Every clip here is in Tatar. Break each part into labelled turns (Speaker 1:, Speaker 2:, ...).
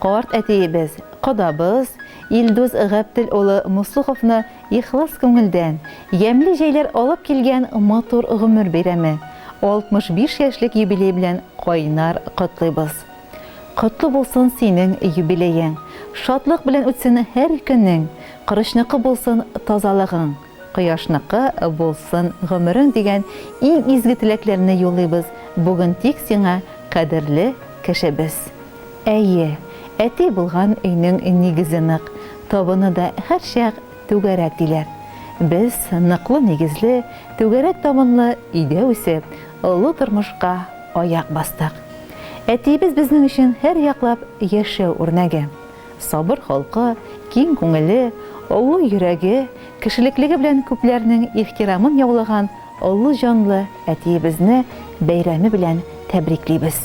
Speaker 1: Карт әтиебез, кодабыз Илдус Габтел улы Муслуховны ихлас күңелдән, ямьле җәйләр алып килгән матур гомер бәйрәме, 65 яшьлек юбилей белән кайнар котлыйбыз. Котлы булсын синең юбилеең, шатлык белән үтсен һәр көнең, корычныкы булсын тазалыгың! Кояшныкы булсын гомерең дигән иң изге теләкләрне юллыйбыз бүген тик сиңа, кадерле кешебез. Әйе, әти булган өйнең нигезе нык, табыны да һәрчак түгәрәк диләр. Без ныклы нигезле, түгәрәк табынлы өйдә үсеп, олы тормышка аяк бастык. Әтиебез безнең өчен һәрьяклап яшәү үрнәге. Сабыр холкы, киң күңеле, олы йөрәге, кешелеклеге белән күпләрнең ихтирамын яулаган олы җанлы әтиебезне бәйрәме белән тәбриклибез.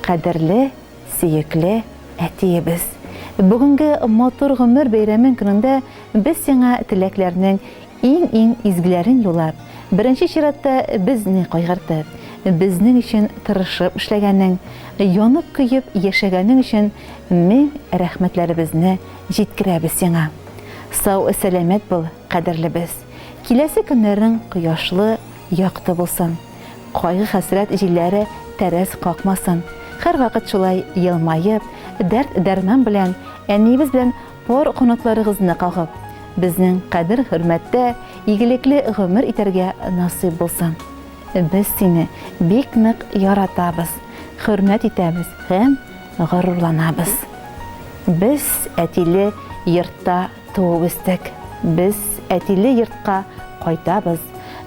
Speaker 1: Кадерле, сөекле әтиебез! Бүгенге матур гомер бәйрәмең көнендә без сиңа теләкләрнең Иң-иң изгеләрен юлап, беренче чиратта безне кайгыртып, безнең өчен тырышып эшләгәнең, янып-көеп яшәгәнең өчен мең рәхмәтләребезне җиткерәбез сиңа. Сау-сәламәт бул, кадерлебез. Киләсе көннәрең кояшлы, якты булсын. Кайгы-хәсрәт җилләре тәрәз какмасын. Һәрвакыт шулай елмаеп, дәрт-дәрман белән, әниебез белән Пар канатларыгызны кагып, безнең кадер-хөрмәттә игелекле гомер итәргә насыйп булсын. Без сине бик нык яратабыз, хөрмәт итәбез һәм горурланабыз. Без әтиле йортта туып-үстек. Без әтиле йортка кайтабыз.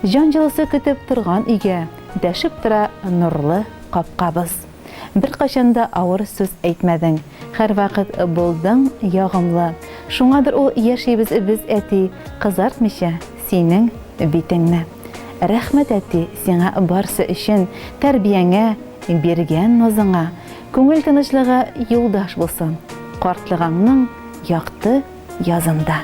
Speaker 1: Җан җылысы көтеп торган өйгә дәшеп тора нурлы капкабыз. Беркайчан да авыр сүз әйтмәдең, һәрвакыт булдың ягымлы. Шуңадыр ул яшибез без, әти, кызартмыйча синең битеңне. Рәхмәт, әти, сиңа барсы өчен, тәрбияңә, биргән назыңа. Күңел тынычлыгы юлдаш булсын картлыгаңның якты язында.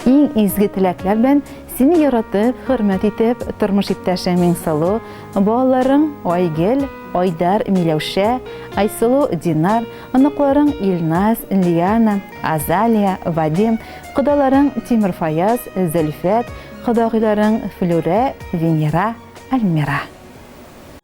Speaker 1: Иң изге теләкләр белән сине яратып, хөрмәт итеп, тормыш иптәшең Миңсылу, балаларың Айгел, Айдар, Миләүшә, Айсылу, Динар, оныкларың Илназ, Лиана, Азалия, Вадим, кодаларың Тимерфаяз, Зөлфәт, кодагыйларың Флүрә, Венера, Альмира.